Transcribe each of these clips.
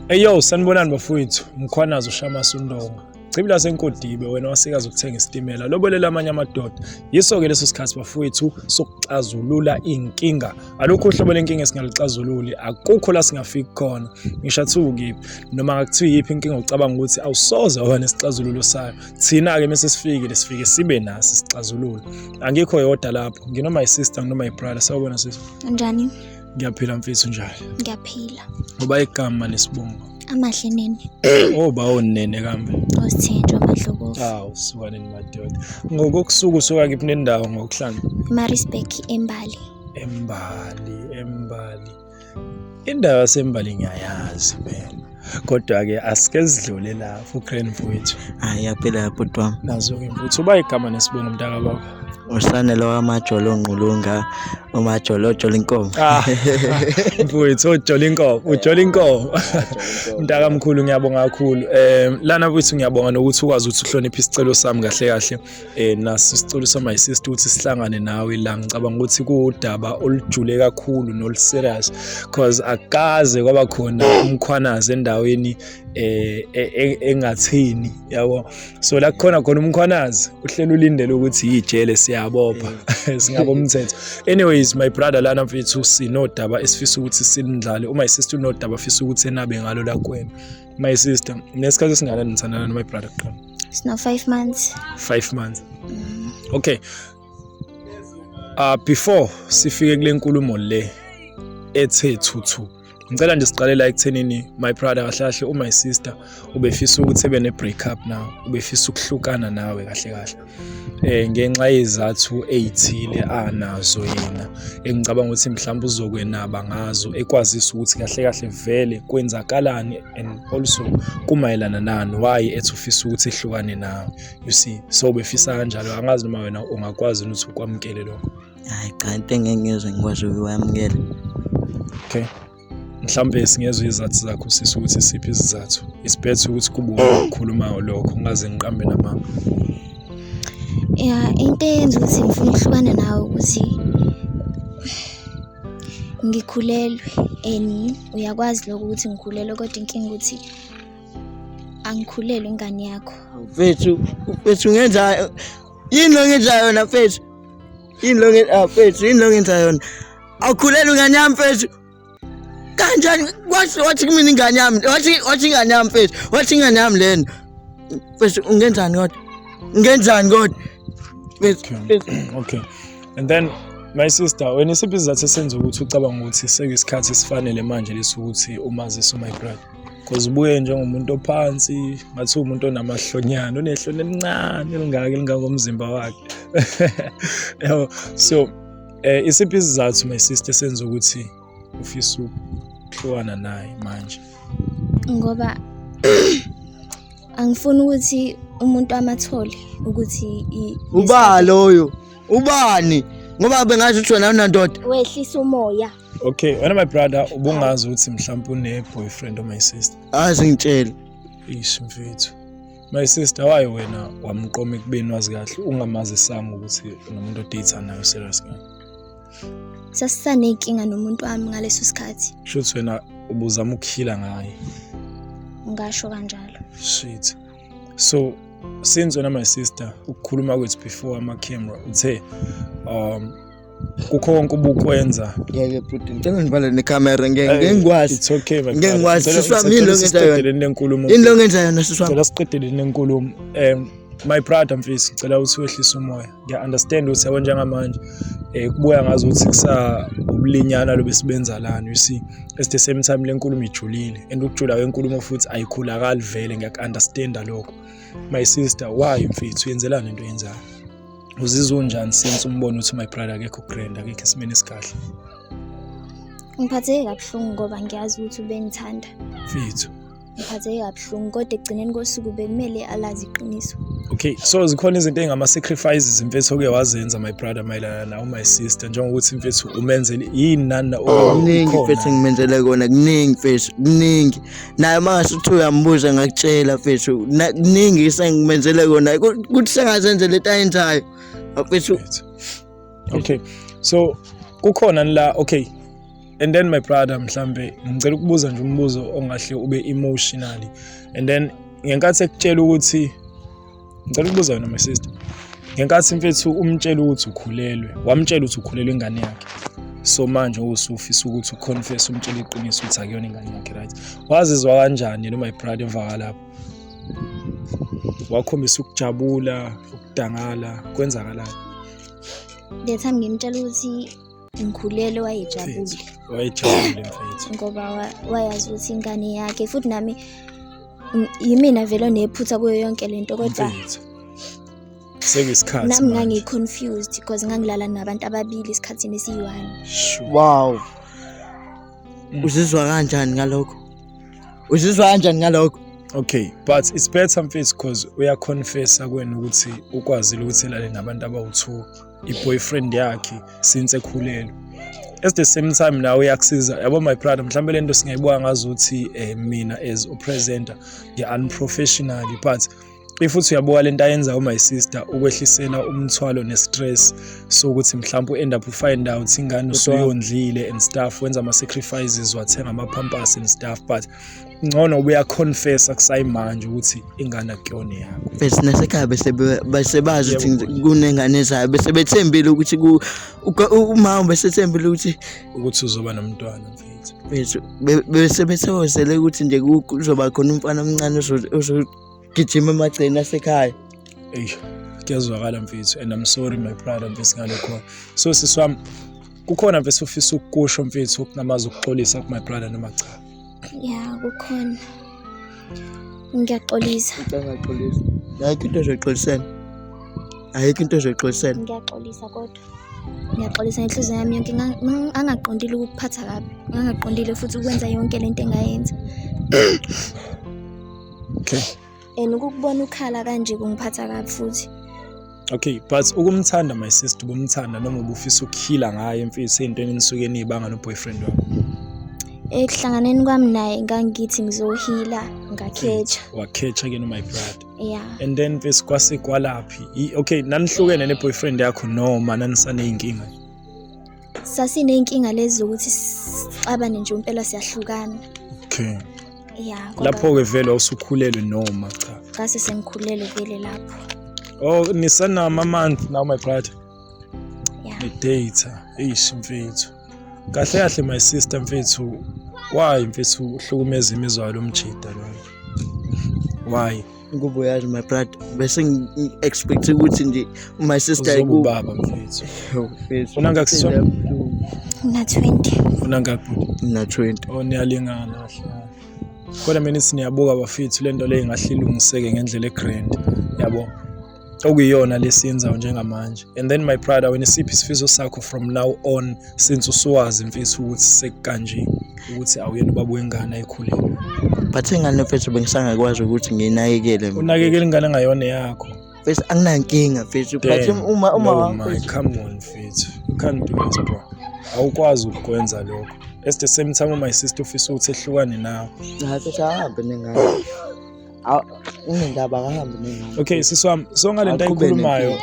Eyo sanibonani bafowethu mkhwanazi ushamasa undonga Chibi lasenkodibe wena wasikaza ukuthenga isitimela lobolela amanye amadoda yiso-ke leso sikhathi bafowethu sokuxazulula iy'nkinga alukho uhlobo lenkinga esingaluxazululi akukho la singafiki khona ngisho athiwa ukiphi noma ngakuthiwa yiphi inkinga ucabanga ukuthi awusoze waba nesixazululo sayo thina-ke mese sifikile sifike sibe naso isixazululo angikho yodwa lapho nginoma yisister nginoma yibrother sawubona sisi njani Ngiyaphila mfethu njalo. Ngiyaphila. Ngoba igama nesibongo. Amahle nene. Oh bawo nene kambe. Osithenjwa amahlokofu. Aw sukane madoda. Ngokokusuku suka kiphi nendawo ngokuhlanga? Marisburg eMbali. Embali, Embali. Indawo yaseMbali ngiyayazi mina. kodwa-ke asike sidlule la fukreni mfowethu hayi yaphela yaphuti wami nazo-ke mfowethu uba igama nesibongo mntaka baba usanele wamajolo ongqulunga umajolo ojola inkomo ah, mfowethu ojola inkomo ujola inkomo mntakamkhulu ngiyabonga kakhulu um lana mfowethu ngiyabonga nokuthi ukwazi ukuthi uhloniphe isicelo sami kahle kahle eh naso isicelo sa my sister ukuthi sihlangane nawe la ngicabanga ukuthi kuwudaba olujule kakhulu nol serious because akaze kwaba khona umkhwanazi endaweni eh e, e, engathini yabo so la khona khona umkhwanazi uhlelo ulindele ukuthi yijele siyabopha mm. singabo umthetho anyways my brother lana mfethu sinodaba esifisa ukuthi sinidlale uma sister unodaba afisa ukuthi enabe ngalo la kwena My sister, nesikhathi esingakanani nithandana no my brother kuqala? Sino 5 months. 5 months. Mm. Okay. Uh, before sifike kule nkulumo le ethe thuthu ngicela nje siqale la ekuthenini my brother kahle kahle u my sister ubefisa ukuthi ebe ne break up now ubefisa ukuhlukana nawe kahle kahle ngenxa yezathu ey'thile anazo yena engicabanga ukuthi mhlawumbe uzokwenaba ngazo ekwazisa ukuthi kahle kahle vele kwenzakalani and also kumayelana nani why ethi ufisa ukuthi ehlukane nawe you see so befisa kanjalo angazi noma wena ungakwazi ukuthi ukwamukele lokho hayi cha into engeke ngizwe ngikwazi ukwamukela okay mhlawumbe singezwa izathu zakho sisi ukuthi isiphi isizathu isibhethe ukuthi kubuka ukukhulumayo lokho ngaze ngiqambe namanga ya into eyenza ukuthi ngifuna ukuhlukana nawe ukuthi ngikhulelwe and uyakwazi lokho ukuthi ngikhulelwe kodwa inkinga ukuthi angikhulelwe ingane yakho mfethu mfethu ngenza yini lo ngenza yona mfethu yini lo ngenza ah, mfethu yini lo ngenza yona awukhulelwe ingane yami mfethu kanjani wathi wathi kumina ingane yami wathi wathi ingane yami mfethu wathi ingane yami lena mfethu ungenzani kodwa ungenzani kodwa okay and then my sister wena isiphi izathu esenza ukuthi ucabanga ukuthi sekuyisikhathi esifanele manje lesokuthi umazise my brother because ubuye njengomuntu ophansi ngathi umuntu onamahlonyana unehloni elincane elingaka elingangomzimba wakhe yabo so Eh isiphi isizathu my sister senza ukuthi ufisa ukuhlukana naye manje? Ngoba angifuni ukuthi umuntu amathole ukuthi uba loyo ubani ngoba bengazi ukuthi wena unandoda wehlisa umoya okay wena my brother ubungazi ukuthi mhlawumbe une boyfriend or my sister azi ngitshela ish mfethu My sister waye wena wamqoma ekubeni wazi kahle ungamazisanga ukuthi unomuntu odate nayo serious kahle. Sasisanenkinga nomuntu wami ngaleso sikhathi. Shuthi wena ubuzama ukukhila ngaye. Ngasho kanjalo. Shit. So since wena my sister ukukhuluma kwethu before ama camera uthe um kukho konke ubukwenza ngeke bhuti ngicela ngibale nekhamera ngeke ngeke ngikwazi it's okay my Ngeke ngikwazi, Ngicela- siswa, ngicela yini siqedele engiyenzayo? into enkulumo yini lo ngenza yona sisi wami ngicela siqedele into enkulumo um my brother mfisi ngicela ukuthi wehlise umoya ngiya-understand ukuthi yabo njengamanje um kubuya ngazi ukuthi kusa ubulinyana lobe sibenza lana you see at the same time le nkulumo ijulile and ukujula kwenkulumo futhi ayikhulakali vele ngiyaku-understanda lokho my sister why mfethu yenzelani into yenzayo uzizwa unjani since umbona ukuthi my brother akekho grand akekho esimeni esikahle ngiphatheke kabuhlungu ngoba ngiyazi ukuthi ubengithanda mfethu ngiphatheke kabuhlungu kodwa ekugcineni kosuku bekumele alazi iqiniso okay so zikhona izinto ey'ngama-sacrifices mfethu oke wazenza my brother mayelana nawo my sister njengokuthi mfethu umenzele yini nani oh, kuningi mfethu engimenzele kona kuningi mfethu kuningi naye mangase ukuthi uyambuza ngakutshela mfethu kuningi isengimenzele kona kuthi sengazenze lento ayenzayo mfethu okay so kukhona la okay and then my brother mhlambe ngicela ukubuza nje umbuzo ongahle ube emotionally and then ngenkathi ekutshela ukuthi Ngicela ukubuza wena my sister. Ngenkathi mfethu umtshela ukuthi ukhulelwe, wamtshela ukuthi ukhulelwe ingane yakhe. So manje usufisa ukuthi uconfess umtshela iqiniso ukuthi akuyona ingane yakhe right. Wazizwa kanjani lo my brother emva kwalapho? Wakhombisa ukujabula, ukudangala, kwenzakalani? The time ngimtshela ukuthi ngikhulele wayejabule wayejabule mfethu ngoba wayazi ukuthi ingane yakhe futhi nami yimina vele onephutha kuyo yonke lento kodwa sekuyisikhathi nami ngangiconfused because ngangilala nabantu ababili esikhathini esiyi-one wow mm. uzizwa kanjani ngalokho uzizwa kanjani ngalokho okay but it's better mfethu because uyaconfessa kwena ukuthi ukwazile ukuthi elale nabantu abawu-two i-boyfriend yakhe since ekhulelwe at the same time nawe uyakusiza yabo my brother mhlawumbe le nto singayibuka ngazo ukuthi um mina as upresenter ngi-unprofessionally but if uthi uyabuka le nto ayenza u-my sister ukwehlisela umthwalo ne-stress sokuthi mhlawumpe u-end up ufind out ingane usuyondlile and stuff wenza ama-sacrifices wathenga ama-pampers and stuff but ngcono ubuya confessa kusayimanje ukuthi ingane akuyona yakho bese nasekhaya bese bese bazi ukuthi kunengane zayo bese bethembile ukuthi ku umama bese thembile ukuthi ukuthi uzoba nomntwana mfethu bese bese bethozele ukuthi nje kuzoba khona umfana omncane ozo gijima emagceni asekhaya eyi kuyazwakala mfethu and i'm sorry my brother mfethu ngalokho so sisi wami kukhona mfethu ufisa ukukusho mfethu okunamazwi ukuxolisa ku-my brother noma cha ya kukhona ngiyaxolisa angaxolisa ayikho into ezoxolisena ayikho into ezoxolisena ngiyaxolisa kodwa ngiyaxolisa ngenhliziyo yami yonke Nga- nga- angaqondile ukukuphatha kabi ngangaqondile futhi ukwenza yonke le nto engayenza okay and ukukubona ukhala kanje kungiphatha kabi futhi okay but ukumthanda my sister ubumthanda noma ubufisa ukukhila ngaye mfisi entweni enisuke niyibanga no boyfriend wakho ekuhlanganeni kwami naye ngangithi ngizohila ngakhetsha wakhetsha ke no my brother yeah and then mfisi kwase kwalaphi okay nanihlukene ne boyfriend yakho noma nanisaneyinkinga sasiney'nkinga lezi zokuthi sixabane nje impela siyahlukana okay ya kodwa lapho-ke vele wawusukhulelwe noma cha ngase sengikhulele vele lapho oh nisanama month now my brother ya ngidata eish mfethu kahle kahle my sister mfethu why mfethu uhlukumeza imizwa yalo mjida lona why Ingubo yazi my brother bese ngi-expect ukuthi nje my sister Uzoba ubaba mfethu. Mfethu, Una ngakho sona? Una 20. Funa ngakho. Mina 20. Oh niyalingana kahle. Kodwa mina siniyabuka bafethu lento le ingahle ilungiseke ngendlela egrand. Yabo. okuyiyona lesinza njengamanje and then my brother wena isiphi isifiso sakho from now on since usuwazi mfethu ukuthi sekukanje ukuthi awuyena ubaba wengane ayikhulile but ingane mfethu bengisangakwazi ukuthi nginakekele unakekele ingane ngayona yakho mfethu anginankinga mfethu but uma uma no, my, come on mfethu you can't do this bro awukwazi ukukwenza lokho at the same time my sister ufisa ukuthi ehlukane nawe hayi mfethu ahambe nengane unendaba akahambe mina okay sisi wami so ngale nto ayikhulumayo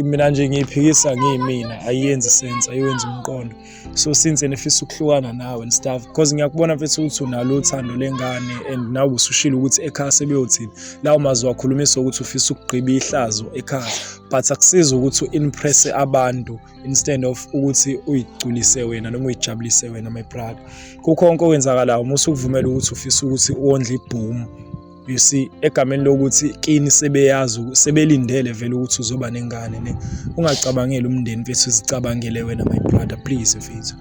mina nje ngiyiphikisa ngiyimina ayiyenzi sense ayiwenzi umqondo so since nifisa ukuhlukana nawe and stuff because ngiyakubona mfethu ukuthi unalo uthando lengane and nawe usushilo ukuthi ekhaya sebeyothini lawo mazwi wakhulumisa ukuthi ufisa ukugqiba ihlazo ekhaya but akusizi ukuthi u-impresse abantu instead of ukuthi uyigculise wena noma uyijabulise wena my brother kukho konke okwenzakalayo uma usukuvumela ukuthi ufisa ukuthi uwondle ibhomu you see egameni lokuthi kini sebeyazi sebelindele vele ukuthi uzoba nengane ne ungacabangeli umndeni mfethu uzicabangele wena my brother please mfethu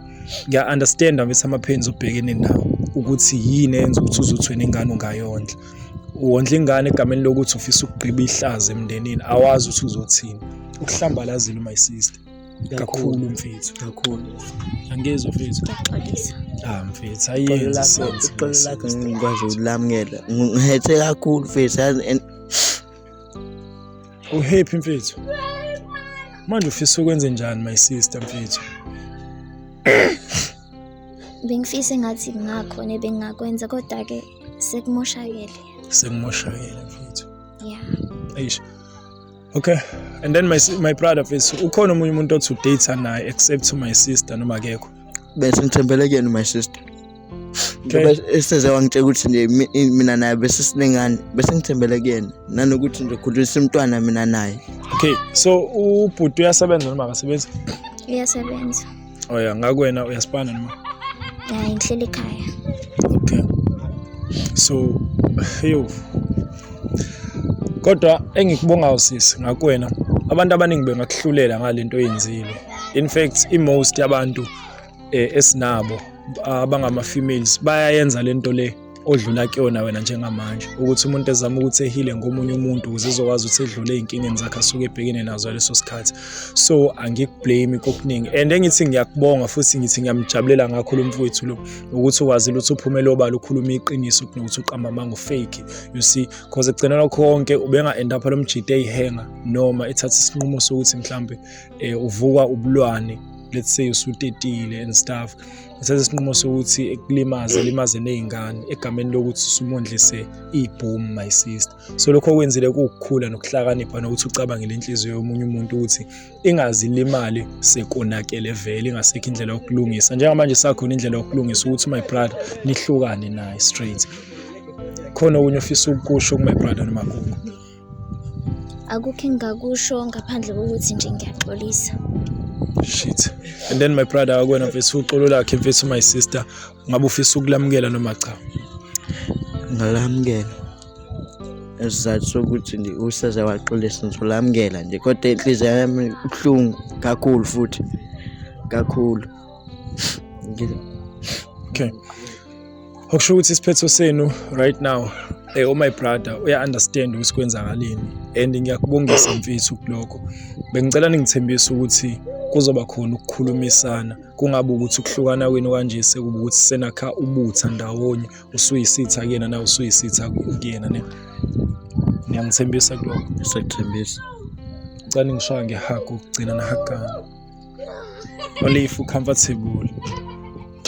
ngiya understand mfethu ama pains obhekene nawo ukuthi yini enza ukuthi uzothwe nengane ungayondla wondla ingane egameni lokuthi ufisa ukugqiba ihlaza emndenini awazi ukuthi uzothini ukuhlambalazile my sister kakhulu mfethu kakhulu angezwa mfethu ndaxolisa ah mfethu ayenzi sense iqolo lakho ngikwazi ukulamukela ngihethe kakhulu mfethu uhappy mfethu manje ufisa ukwenze njani my sister mfethu bengifisa engathi kungakhona ebengingakwenza kodwa-ke Sekumoshakele. Sekumoshakele mfethu. Yeah. Eish. Okay. And then my my brother mfethu ukhona omunye umuntu othi udate naye except my sister noma akekho. Bese ngithembele kuyena my sister. Ngoba eseze wangitshela ukuthi nje mina naye bese sinengane bese ngithembele kuyena nanokuthi nje khulisa umntwana mina naye. Okay. So ubhuti uyasebenza noma akasebenzi? Uyasebenza. oya oh, ngakwena uyasipana noma hayi ngihleli ekhaya okay so heyo kodwa engikubonga usisi ngakwena abantu abaningi bengakuhlulela ngalento oyenzile in fact imost yabantu eh, esinabo abangama females bayayenza lento le odlula kuyona wena njengamanje ukuthi umuntu ezama ukuthi ehile ngomunye umuntu ukuze ezokwazi ukuthi edlule ey'nkingeni zakhe asuke ebhekene nazo leso sikhathi so angikublame kokuningi and engithi ngiyakubonga futhi ngithi ngiyamjabulela ngakho lo mfowethu lo ukuthi ukwazile ukuthi uphumele obala ukhuluma iqiniso kunokuthi uqamba amanga ufake you see cause ekugcinela konke ubenga-end up lo mjita eyihenga noma ethatha isinqumo sokuthi mhlawumbe um eh, uvukwa ubulwane let's say usutetile and stuff ngisenza isinqumo sokuthi ekulimaze limaze nezingane egameni lokuthi sumondlise ibhomu my sister so lokho okwenzile kuwukukhula nokuhlakanipha nokuthi ucabangele inhliziyo yomunye umuntu ukuthi ingazilimali sekonakele vele ingasekho indlela yokulungisa njengamanje sakhona indlela yokulungisa ukuthi my brother nihlukane naye straight khona okunye ofisa ukukusho kumy brother nomagugu akukho engingakusho ngaphandle kokuthi nje ngiyaxolisa shit and then my brother akwena mfethu uxolo lakhe mfethu my sister ngabe ufisa ukulamukela noma cha ngalamukela esizathu sokuthi nje useze waxolisa ngizolamukela nje kodwa inhliziyo yami ibuhlungu kakhulu futhi kakhulu okay okusho ukuthi isiphetho senu right now eh oh my brother uya understand ukuthi kwenzakaleni and ngiyakubongisa mfethu kuloko bengicela ningithembise ukuthi kuzoba khona ukukhulumisana kungabe ukuthi ukuhlukana kwenu kanje sekuba ukuthi senakha ubutha ndawonye usuyisitha kuyena na usuyisitha kuyena ne ngiyangithembisa kuloko sekuthembisa ngicela ngishaya ngehago ukugcina nahagana Only if you comfortable.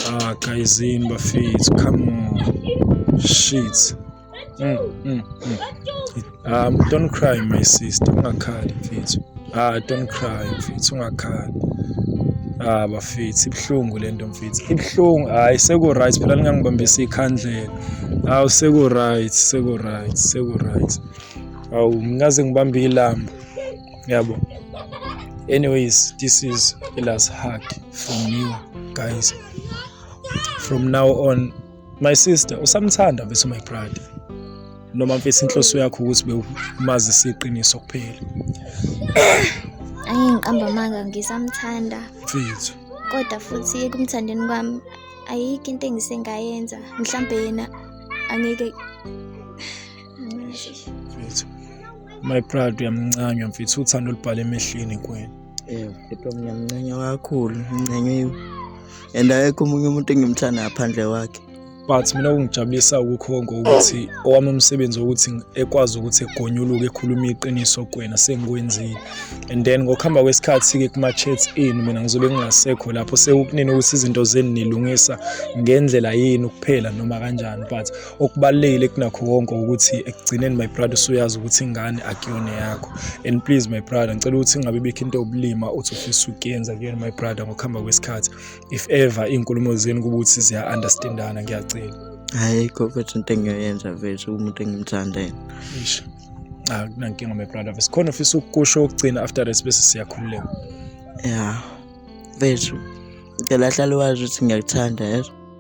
Ah, guys, in my face. Come on. Shit. Mm, mm, mm. Um, don't cry, my sister. Ungakhali mfethu. Ah, don't cry mfethu. Ungakhali. Ah, bafethu, ibuhlungu lento mfethu. Ibuhlungu. Hayi seku right phela ningangibambisa ikhandlela. Awu seku right, seku right, seku right. Awu ngikaze ngibambe ilamba. yabo anyways this is a last hug from you guys from now on my sister usamthanda mfethu my brother noma mfethu inhloso yakho ukuthi bewumazi siqiniso kuphela angiqamba manga ngisamthanda mfethu kodwa futhi ekumthandeni kwami ayikho into engisengayenza mhlambe yena angeke mfethu my proud uyamncanywa mfethu uthando olubhala emehlweni kwena yebo kodwa ngiyamncenya kakhulu ngincenyiwe and ayekho omunye umuntu engimthanda ngaphandle kwakhe but mina kungijabulisa ukukhonga ukuthi owami umsebenzi wokuthi ekwazi ukuthi egonyuluke ekhuluma iqiniso kwena sengikwenzile and then ngokuhamba kwesikhathi-ke kuma-chats enu mina ngizobe ngingasekho lapho sekukunini ukuthi izinto zenu nilungisa ngendlela yenu kuphela noma kanjani but okubalulekile kunakho konke ukuthi ekugcineni my brother usuyazi ukuthi ingane akuyona yakho and please my brother ngicela ukuthi ngabe bikho into yobulima uthi ufisa ukuyenza kuyona my brother ngokuhamba kwesikhathi if ever iy'nkulumo zenu kuba ukuthi ziya-understandana ngiyacela hhayi kho futhi into engiyoyenza vese umuntu engimthandele akunankinga my brother vese khona ufisa ukukusho ukugcina after this bese siyakhululeka ya vethu ngicela hlale wazi ukuthi ngiyakuthanda yezo